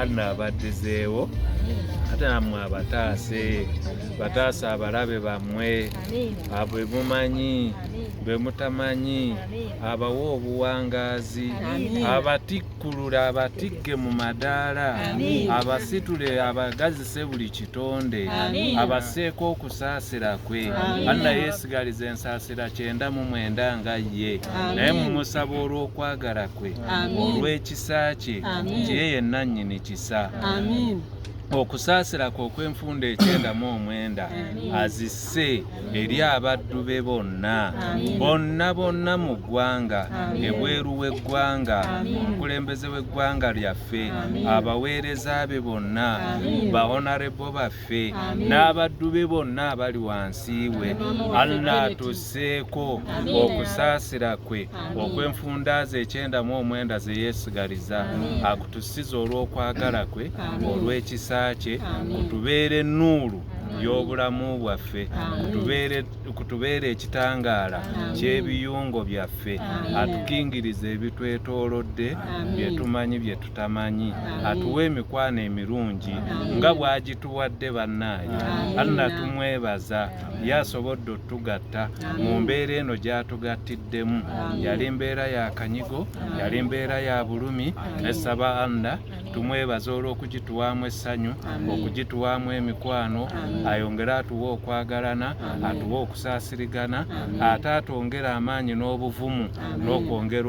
anno abaddizeewo ate nammwe abataase bataasa abalabe bammwe abo emumanyi be mutamanyi abawa obuwangaazi abatikkulula abatikke mu madaala abasitule abagazise buli kitonde abaseeko okusaasira kwe anna yeesigaliza ensaasira kyenda mu mwenda nga ye naye mumusaba olw'okwagala kwe olw'ekisa kisa kye nti ye yenna nnyini kisa okusaasira kwe okw'enfunda ekyenda mu omwenda azisse eri abaddu be bonna bonna bonna mu ggwanga ebweru w'eggwanga omukulembeze w'eggwanga lyaffe abaweereza be bonna bahonarebo baffe waffe n'abaddu be bonna abali wansi we allah atusseeko okusaasira kwe okwenfundaaza ekyenda mu omwenda ze yeesigaliza akutusiza olw'okwagala kwe olw'ekisa kye kutubeera ennuulu y'obulamu bwaffe kutubeera ekitangaala ky'ebiyungo byaffe atukingiriza ebitwetoolodde byetumanyi byetu tamanyi atuwe emikwano emirungi nga bwagituwadde bannaaye alla tumwebaza ye asobodde otugatta mu mbeera eno gyatugattiddemu yali mbeera ya kanyigo yali mbeera ya bulumi nesaba alla tumwebaza olw'okugituwamu essanyu okugituwamu emikwano ayongere atuwe okwagalana atuwe okusaasirigana ate atwongere amaanyi n'obuvumu n'okwongera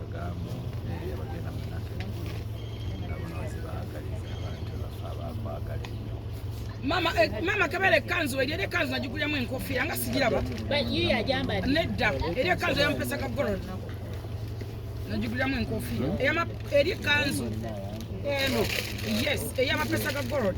mama eh, mama kabere kanzu eri eri kanzu najigulyamu enkofiira nga sigiraba nedda eri ekanzu eyampesa ka gold najigulyamu enkofiira eri kanzu eno yes eyamapesa ga gold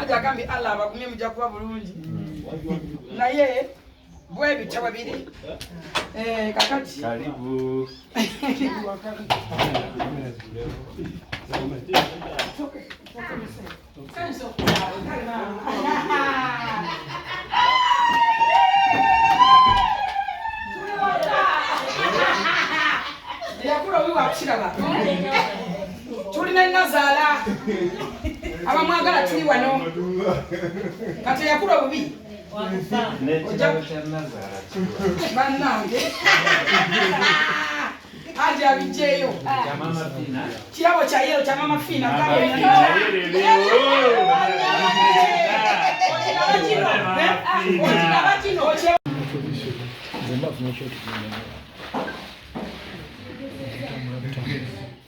aja agambye allah abagumye muja kuba bulungi naye bwebitya bwe biri eh, kakati tuli ne nazaala abamwagala tuli wano kati yakula obubi bannange aja abijeyo kirabo kya yero kya mama fiina Thank you.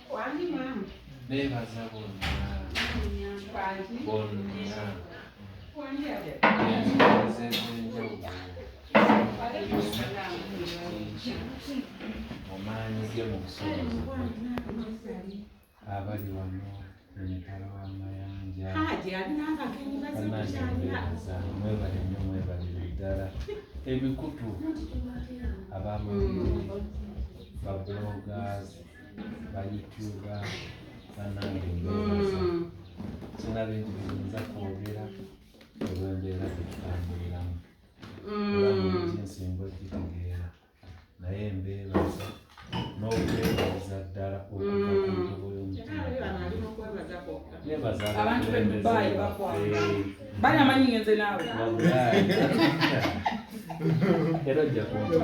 beebaza bonna bonna ensozi ez'enjawulo omaanyi ge mu busobozi abali wano emitala w'amayanja banaebeeza mwebale nnyo mwebalire ddala emikutu abamawulire babulogazi bayityuba banange mbebaza mm. sina bintu biyinza kwogera olwembeera gyetutambuliramu olamuzi mm. ensinga okitegeera naye mbebaza n'okwebaza ddala okubaayobakulembezebaana amanyi ngenze naawe era ojja kunfa